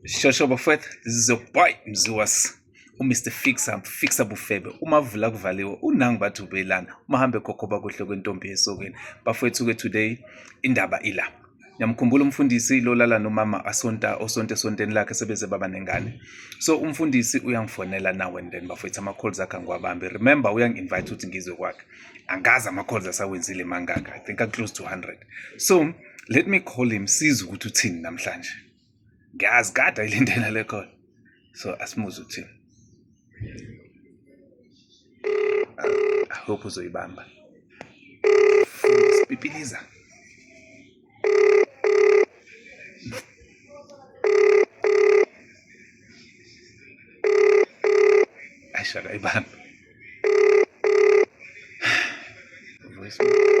Shosho bafethu, this is your boy Mziwas. uMr Fixer Fixer Bufebe uma vula kuvaliwe unangi bathi ubelana uma hambe khokhoba kuhle kwentombi yesokeni bafethu ke today indaba ila Niyamkhumbula umfundisi lolala nomama asonta osonte sonteni lakhe sebeze baba nengane. So umfundisi uyangifonela now and then bafethu ama calls akhe ngiwabambe. Remember uyangi invite ukuthi ngizwe kwakhe. Angazi ama calls asawenzile mangaka. I think a close to 100. So let me call him size ukuthi uthini namhlanje ngiyazi kade ayilindela le call so asimuze uthini i hope uzoyibamba sipipiliza Aisha Raiban. Voicemail.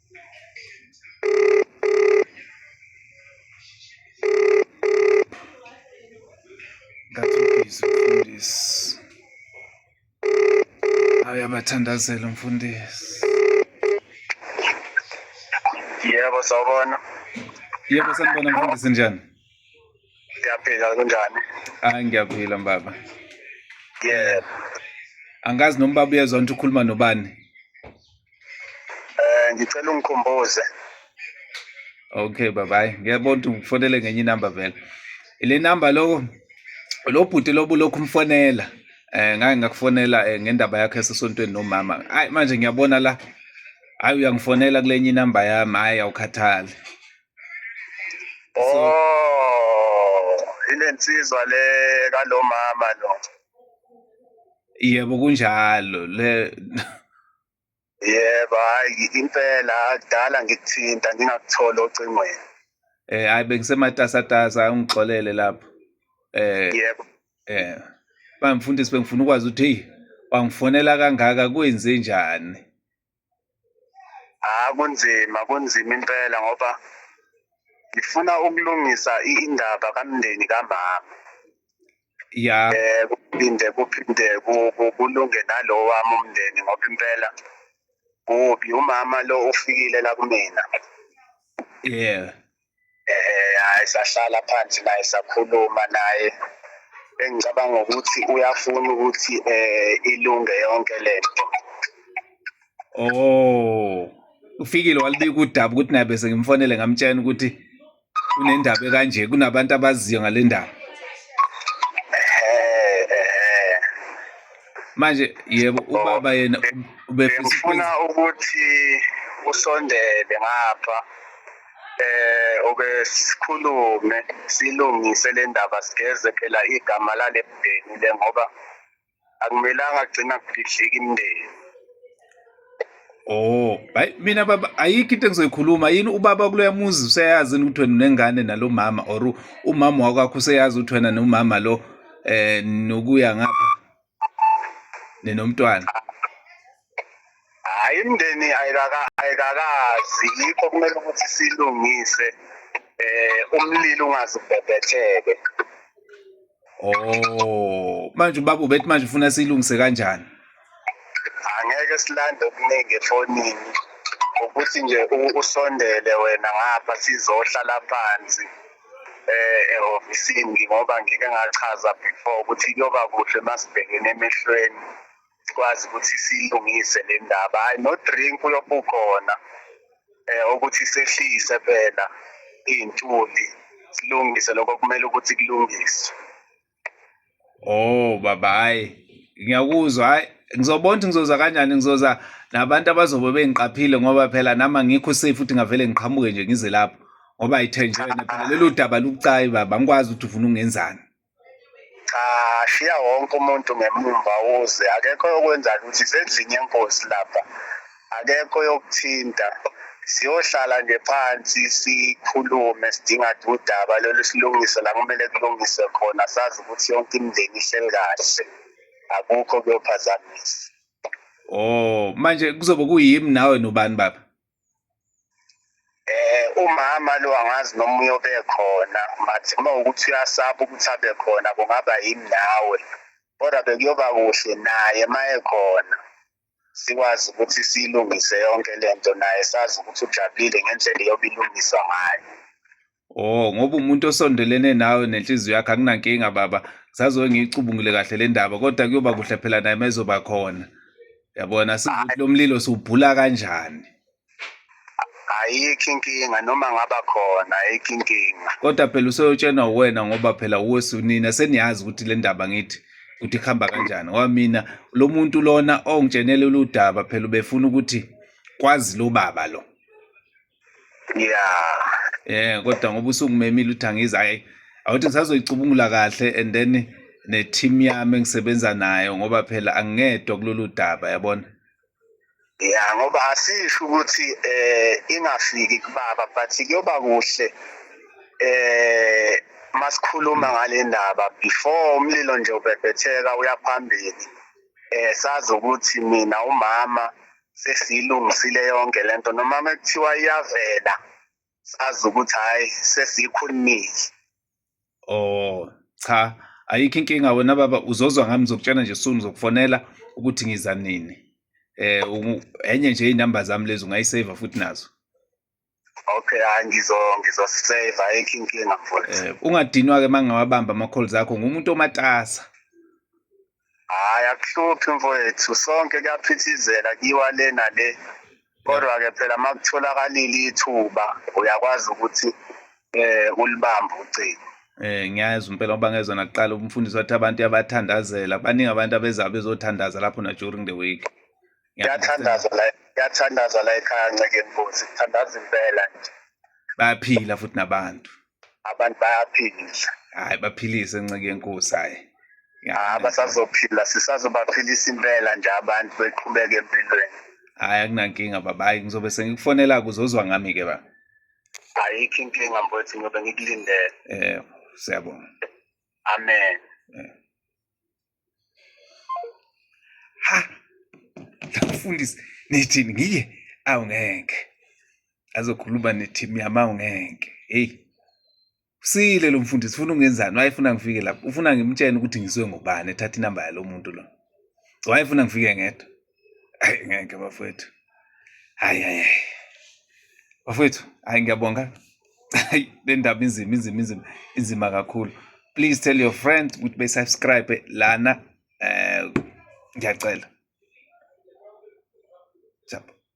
uyabathandazela umfundisi yebo sawubona yebo sanibona mfundisi njani ngiyaphila kunjani hayi ngiyaphila mbaba yeah angazi noma baba uyezwa ukuthi ukhuluma nobani eh ngicela ungikhumbuze okay baba hayi ngiyabona ukuthi ngifonele ngenye inamba vele ile namba loko lo bhuti lobu lokhu umfonela eh ngake ngakufonela eh, ngendaba yakhe esesontweni nomama hayi manje ngiyabona la hayi uyangifonela kulenye inamba yami hayi awukhathali Oh, ile nsizwa le kalomama lo. Yebo kunjalo le Yebo, hayi impela kudala ngikuthinta ngingakuthola ocingweni. eh hayi bengisematasatasa ungixolele lapho. Eh Yebo. eh bamfundisi bengifuna ukwazi ukuthi hey wangifonela kangaka kwenze njani? Ah kunzima kunzima impela ngoba ngifuna ukulungisa i- indaba kamndeni kamama. ya Eh kuphinde kuphinde ku- ku- kulunge nalo wami umndeni ngoba impela kubi umama lo ufikile la kumina. yeah eh hayi sahlala phansi naye sakhuluma naye engicabanga ukuthi uyafuna ukuthi eh ilunge yonke lento oh ufikile walibika udaba ukuthi naye bese ngimfonele ngamtshela ukuthi kunendaba ekanje kunabantu abaziyo ngale ndaba manje yebo ubaba yena ubefuna ukuthi usondele ngapha eh oke sikhulume silungise le ndaba sigeze phela igama lale mndeni le ngoba akumelanga kugcina kudidlika imndeni Oh, hayi mina baba ayikho into engizoyikhuluma yini ubaba kuloya muzi useyazi ukuthi wena unengane nalomama or umama wakwakho useyazi ukuthi wena nomama lo eh nokuya ngapha ninomntwana hayi imndeni ayikakazi yikho kumele ukuthi silungise eh umlilo ungazi ubhebhetheke oh manje ubaba ubethi manje ufuna silungise kanjani angeke silande okuningi efonini ukuthi nje usondele wena ngapha sizohlala phansi eh ehofisini ngoba ngike ngachaza before ukuthi kuyoba kuhle masibhekene emehlweni sikwazi ukuthi silungise le ndaba hayi no drink uyobukhona eh ukuthi sehlise phela iy'ntuli silungise lokho kumele ukuthi kulungiswe Oh baba hayi ngiyakuzwa hayi ngizobona ukuthi ngizoza kanjani ngizoza nabantu abazobe bengiqaphile ngoba phela nami angikho safe futhi ngavele ngiqhamuke nje ngize lapho ngoba ayithenjwene phela lelo daba lubucayi baba angikwazi ukuthi ufuna ungenzani ashiya wonke umuntu ngemumva uze akekho yokwenza ukuthi sendlini yenkosi lapha akekho yokuthinta siyohlala nje phansi sikhulume sidinga udaba lolu silungise la kumele kulungiswe khona sazi ukuthi yonke imindeni ihleli kahle akukho kuyophazamisa oh manje kuzobe kuyimi nawe nobani baba eh umama lo angazi noma uyobe khona mathi uma ukuthi uyasaba ukuthi abe khona kungaba yini nawe kodwa bekuyoba kuhle naye maye khona sikwazi ukuthi siyilungise yonke le nto naye sazi ukuthi ujabulile ngendlela iyobe ilungiswa ngayo Oh ngoba umuntu osondelene nawe nenhliziyo yakhe akunankinga baba sazoke ngiyicubungule kahle le ndaba kodwa kuyoba kuhle phela naye mezoba khona yabona sizokuthi lo mlilo siwubhula kanjani ayikho inkinga noma ngaba khona ayikho inkinga kodwa phela usoyotshenwa uwena ngoba phela uwesunina seniyazi ukuthi le ndaba ngithi ukuthi kuhamba kanjani ngoba mina lo muntu lona ongitshenele uludaba phela ubefuna ukuthi kwazi lo baba lo ya eh kodwa ngoba usungimemile uthi angizi hayi awuthi ngisazoyicubungula kahle and then ne-team yami engisebenza nayo ngoba phela angingedwa kulolu daba yabona ya ngoba asisho ukuthi eh ingafiki kubaba but kuyoba kuhle eh masikhuluma ngale ndaba before umlilo nje ubhebhetheka uyaphambili eh sazi ukuthi mina umama sesilungisile yonke lento noma mekuthiwa iyavela sazi ukuthi hayi sesiyikhulumile oh cha ayikho inkinga wena baba uzozwa ngami ngizokutshena nje soon ngizokufonela ukuthi ngiza nini eh enye nje inamba zami lezi ungayisave futhi nazo okay hayi ngizo ngizosave ayikho inkinga mfowethu eh ungadinwa ke mangawabamba ama calls akho ngumuntu omatasa hayi akuhluphi mfowethu sonke kuyaphithizela kiwa le nale kodwa-ke phela uma kutholakalile ithuba uyakwazi ukuthi eh ulibamba ucingo Eh ngiyazi impela ngoba ngezwa nakuqala umfundisi wathi abantu yabathandazela baningi abantu abeza bezothandaza lapho na during the week kuyathandaza la kuyathandaza la ekhaya nceke nkosi kuthandaza impela nje bayaphila futhi nabantu abantu bayaphila hayi baphilise nceke yenkosi hayi hayi basazophila sisazobaphilisa impela nje abantu beqhubeke empilweni hayi akunankinga baba hayi ngizobe sengikufonela kuzozwa ngami ke ba ayikho inkinga mfowethu ngiyobe ngikulindele eh siyabonga amen eh. ha mfundisi nithini ngiye awu ngeke azokhuluma neteam yami awu ngeke heyi usile lo mfundisi ufuna ungenzani wayefuna ngifike lapho ufuna ngimtshene ukuthi ngizwe ngubani ethatha inamba yalo muntu lo wayefuna ngifike ngedwa Hayi ngeke bafowethu. Hayi hayi. Bafowethu, hayi ngiyabonga. Hayi le ndaba inzima inzima inzima inzima kakhulu. Please tell your friend ukuthi be subscribe lana eh ngiyacela. Jump.